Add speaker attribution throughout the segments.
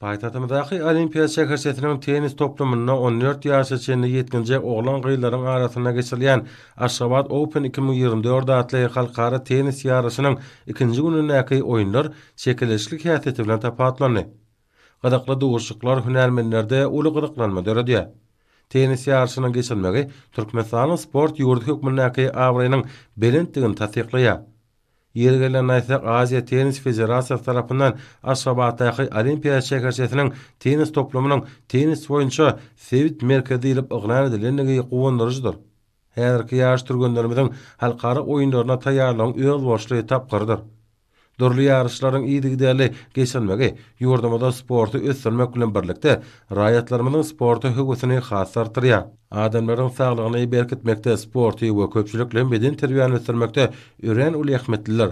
Speaker 1: Paýtagtymyzdaky Olimpiýa şäherçesiniň tennis toplumynda on dört ýaşa çenli ýetginjek oglan-gyzlaryň arasynda geçirilýän Aşgabat Open iki müň ýigrimi dört atly halkara tennis ýaryşynyň ikinji günündäki oýunlar çekeleşikli häsiýeti bilen tapawutlandy. Gyzykly duşuşyklar hünärmenlerde uly gyzyklanma döredýär. Tennis ýaryşynyň geçirilmegi Türkmenistanyň sport ýurdy hökmündäki abraýynyň belentdigini tassyklaýar. Ýeri gelende aýtsak, Aziýa Tennis Federasiýasy tarapyndan Aşgabatdaky Olimpiýa şäherçesiniň tennis toplumynyň tennis boýunça sebit merkezi diýlip yglan edilendigi guwandyryjydyr. Häzirki ýaş türgenlerimiziň halkara oýunlaryna taýýarlygyň özboluşly tapgyrydyr. Dürli ýaryşlaryň yzygiderli geçirilmegi ýurdumyzda sporty ösdürmek bilen birlikde, raýatlarymyzyň sporta höwesini has artdyrýar. Adamlaryň saglygyny berkitmekde, sporty we köpçülikli hem bedenterbiýäni ösdürmekde örän uly ähmiýetlidir.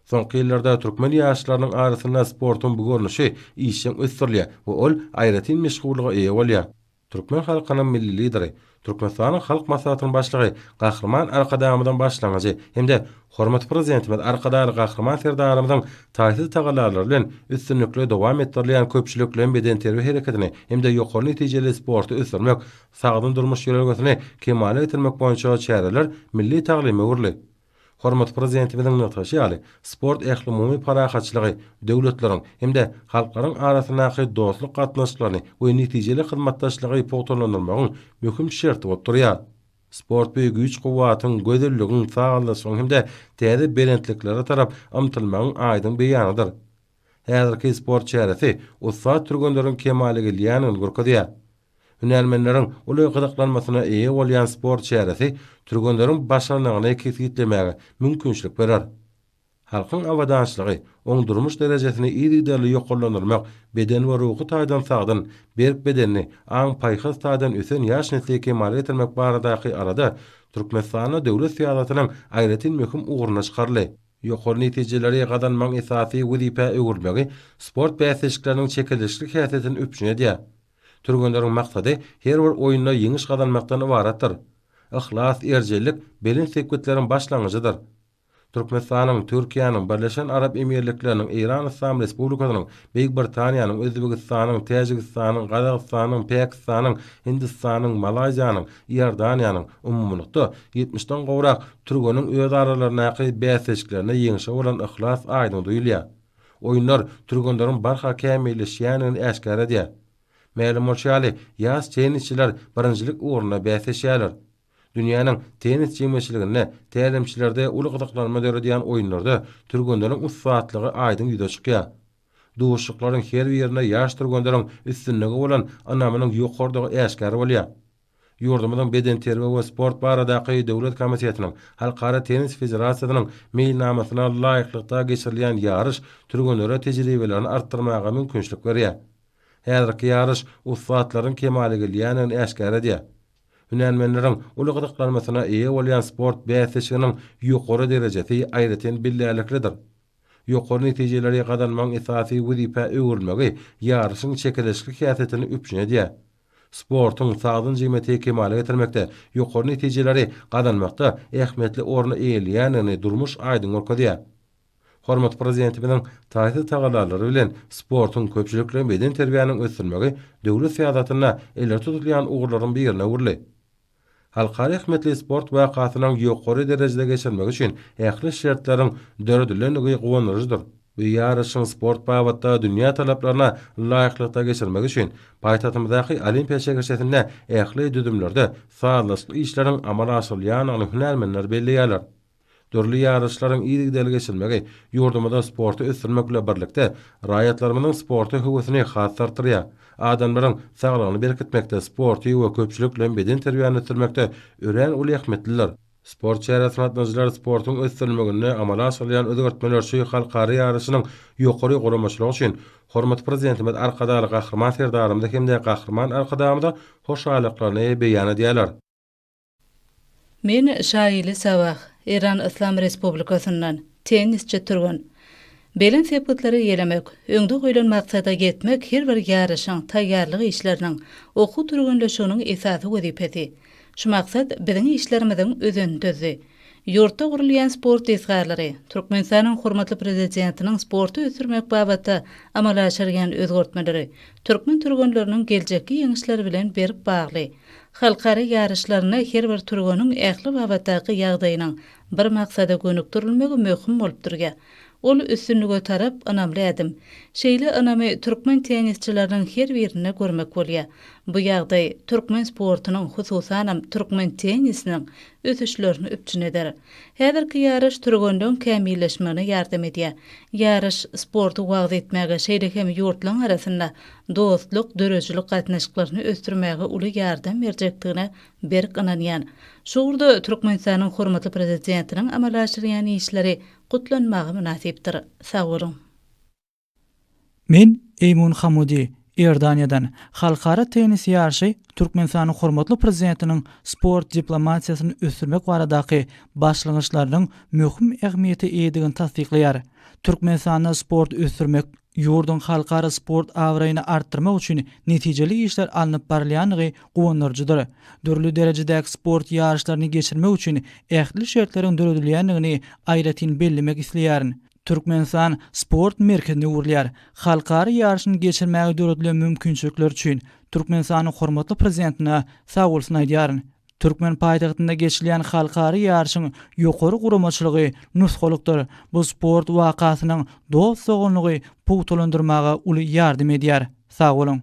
Speaker 1: Soňky ýyllarda türkmen ýaşlarynyň arasynda sportuň bu görnüşi işjeň ösdürilýär we ol aýratyn meşhurlyga eýe bolýar. Türkmen halkynyň Milli Lideri, Türkmenistanyň Halk Maslahatynyň Başlygy Gahryman Arkadagymyzyň başlangyjy hem-de Hormatly Prezidentimiz Arkadagly Gahryman Serdarymyzyň taýsyz tagallalary bilen üstünlikli dowam etdirilýän köpçülikleýin bedenterbiýe hereketini hem-de ýokary netijeli sporty ösdürmek, sagdyn durmuş ýörelgesini kemala getirmek boýunça çäreler milli taglyma öwrüldi. Hormatly Prezidentimiziň nygtaşy ýaly, sport ählumumy parahatçylygy, döwletleriň hem-de halklaryň arasyndaky dostluk gatnaşyklaryny we netijeli hyzmatdaşlygy pugtalandyrmagyň möhüm şerti bolup durýar. Sport bu güýç-kuwwatyň, gözelligiň, sazlaşygyň hem-de täze belentliklere tarap ymtylmagyň aýdyň beýanydyr. Häzirki sport çäresi ussat türgenleriň kemala gelýändigini görkezýär. Hünärmenleriň uly gyzyklanmasyna eýe bolýan sport çäresi türgenleriň başarnygyny kesgitlemäge mümkinçilik berer. Halkyň abadançylygy, oň durmuş derejesini yzygiderli ýokarlandyrmak, beden we ruhy taýdan sagdyn, berk bedenli, aň-paýhas taýdan ösen ýaş nesli kemala getirmek baradaky alada Türkmenistanda döwlet syýasatynyň aýratyn möhüm ugruna çykaryldy. Ýokary netijeleri gazanmagyň esasy wezipä öwrülmegi sport bäsleşikleriniň çekeleşikli häsiýetini üpjün edýär. Türgenleriň maksady her bir oýunda ýeňiş gazanmakdan ybaratdyr. Yhlas, erjellik belent sepgitleriň başlangyjydyr. Türkmenistanyň, Türkiýäniň, Birleşen Arap Emirlikleriniň, Eýran Yslam Respublikasynyň, Beýik Britaniýanyň, Özbegistanyň, Täjigistanyň, Gazagystanyň, Päkistanyň, Hindistanyň, Malaýziýanyň, Iordaniýanyň, umumylykda, ýetmiş den gowrak türgeniň özaralaryndaky bäsleşiklerinde ýeňşe bolan yhlas aýdyň duýulýar. Oýunlar türgenleriň barha kämilleşýändigini äşgär edýär. Mälim bolşy ýaly, ýaş tennisçiler birinjilik ugrunda bäsleşýärler. Dünýäniň tennis jemgyýetçiliginde tälimçilerde uly gyzyklanma döredýän oýunlarda türgenleriň ussatlygy aýdyň ýüze çykýar. Duşuşyklaryň her birinde ýaş türgenleriň üstünlige bolan ynamynyň ýokarydygy äşgär bolýar. Ýurdumyzyň Bedenterbiýe we sport baradaky döwlet komitetiniň Halkara tennis federasiýasynyň meýilnamasyna laýyklykda geçirilýän ýaryş türgenlere tejribelerini artdyrmaga mümkinçilik berýär. Häzirki ýaryş ussatlaryň kemala gelýändigini äşgär edýär. Hünärmenleriň uly gyzyklanmasyna eýe bolýan sport bäsleşiginiň ýokary derejesi aýratyn bellärliklidir. Ýokary netijeleri gazanmagyň esasy wezipä öwrülmegi ýaryşyň çekeleşikli häsiýetini üpjün edýär. Sportuň sagdyn jemgyýeti kemala getirmekde, ýokary netijeleri gazanmakda ähmiýetli orny eýeleýändigini durmuş aýdyň görkezýär. Hormatly Prezidentimiziň taýsyz tagallalary bilen sportuň, köpçülikleýin bedenterbiýäniň ösdürilmegi döwlet syýasatynda ileri tutulýan ugurlaryň birine öwrüldi. Halkara ähmiýetli sport wakasynyň ýokary derejede geçirilmegi üçin ähli şertleriň döredilendigi guwandyryjydyr we ýaryşyň sport babatda dünýä talaplaryna laýyklykda geçirilmegi üçin paýtagtymyzdaky Olimpiýa şegerçesinde ähli düzümlerde sazlaşykly işleriň amala aşyrylýandygyny hünärmenler belleýärler. Dürli ýaryşlaryň yzygiderli geçirilmegi ýurdumyzda sporty ösdürmek bilen birlikde, raýatlarymyzyň sporta höwesini has-da artdyrýar. Adamlaryň saglygyny berkitmekde, sporty we köpçülikleýin bedenterbiýäni ösdürmekde örän uly ähmiýetlidir. Sport çäresine gatnaşyjylar sportuň ösdürilmeginde amala aşyrylýan özgertmeler şu halkara ýaryşynyň ýokary guramaçylygy üçin hormatly Prezidentimiz Arkadagly Gahryman Serdarymyza hem-de Gahryman Arkadagymyza hoşallyklaryny beýan edýärler.
Speaker 2: Men Şaili Sabah, Eýran Yslam Respublikasyndan, tennisçi türgen. Belent sepgitlere ýelemek, öňde goýlan maksada ýetmek her bir ýaryşyň, taýýarlyk işleriniň, okuw türgenleşiginiň esasy wezipesi. Şu maksat biziň işlerimiziň özenini düzdi. Ýurtda gurulýan sport desgalary, Türkmenistanyň hormatly Prezidentiniň sporty ösdürmek babatda amala aşyrýan özgertmeleri türkmen türgenleriniň geljekki ýeňişleri bilen berk bagly. Halkara ýaryşlarynda her bir türgeniň ähli babatdaky ýagdaýynyň bir maksada gönükdirilmegi möhüm bolup durýar. Ol üstünlige tarap ynamly ädim. Şeýle ynamy türkmen tennisçileriniň her birinde görmek bolýar. Bu ýagdaý türkmen sportunyň, hususanam türkmen tennisiniň ösüşlerini üpjün eder. Häzirki ýaryş türgenleň kämilleşmegine ýardam edýär. Ýaryş, sporty wagyz etmäge, şeýle hem ýurtlaryň arasynda dostluk, döredijilik gatnaşyklaryny ösdürmäge uly ýardam berjekdigine berk ynanýan. Şu ugurda Türkmenistanyň hormatly Prezidentiniň amala aşyrýan işleri gutlanmaga mynasypdyr. Sag boluň! Men
Speaker 3: Eýmun Hamudy, Iordaniýadan. Halkara tennis ýaryşy Türkmenistanyň hormatly Prezidentiniň sport diplomatiýasyny ösdürmek baradaky başlangyçlarynyň möhüm ähmiýete eýedigini tassyklaýar. Türkmenistanda sporty ösdürmek, Ýurduň halkara sport abraýyny artdyrmak üçin netijeli işler alnyp barylýandygy guwandyryjydyr. Dürli derejedäki sport ýaryşlaryny geçirmek üçin ähli şertleriň döredilýändigini aýratyn bellemek isleýärin. Türkmenistan sport merkezine öwrülýär. Halkara ýaryşyny geçirmäge döredilen mümkinçilikler üçin Türkmenistanyň hormatly Prezidentine sagbolsun aýdýaryn. Türkmen paýtagtynda geçilýän halkara ýaryşyň ýokary guramaçylygy nusgalykdyr, bu sport wakasynyň dost-doganlygy pugtalandyrmaga uly ýardam edýär. Sag boluň!